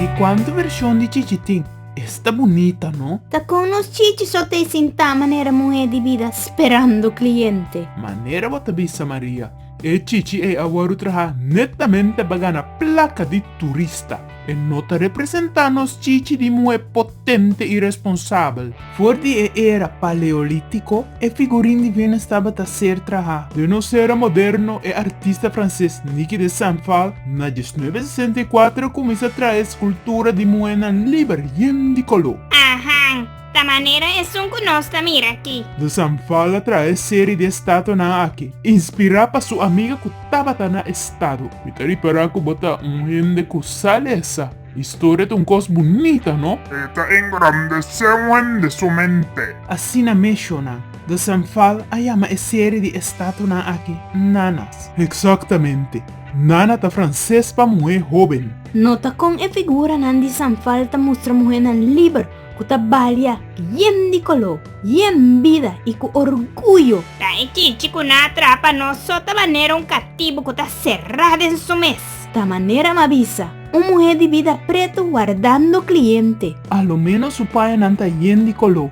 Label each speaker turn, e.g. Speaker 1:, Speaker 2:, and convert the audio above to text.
Speaker 1: Ke kuantu vershon di chichi tin? Esta bunita no. Ta kon nos chichi so ta e sintá manera muhé di bida sperando kliente. Manera bo ta bisa Maria, e chichi ei a wòrdu trahá netamente pa gana plaka di turista. E no ta representá nos chichi di muhé potente i responsabel. For di e era Paleolítiko, e figurin di Venus tabata ser trahá. Den nos era moderno, e artista franses Niki de Saint-Phalle, na diesnuebe sesenta i kuater, kuminsá traha e skultura di muhénan liber, yen di koló. Ahan! Ta manera esun cu nos ta mira aki. Dos Anfal a trae serie di estatonan aki, inspira pa su amiga cu tabata na estado. Mi ta ripara cu bo ta un hende cu sa lesa. Historia ta un cos bunita, no? E ta engrandece un hende su mente. Asina mesho nan. Dos Anfal a yama e serie di estatonan aki Nanas. Exactamente. Nana ta frances pa muhe hoben. Nota con e figuranan di Sanfal ta mustra muhenan liber. ku ta balia yen di koló, yen bida i ku orguyo. Ta e chichi ku na atrapa nos so ta manera un katibu ku ta será den su mes. Ta manera ma bisa un muhé di bida pretu wardando kliente. Aloménos su payanan ta yen di koló.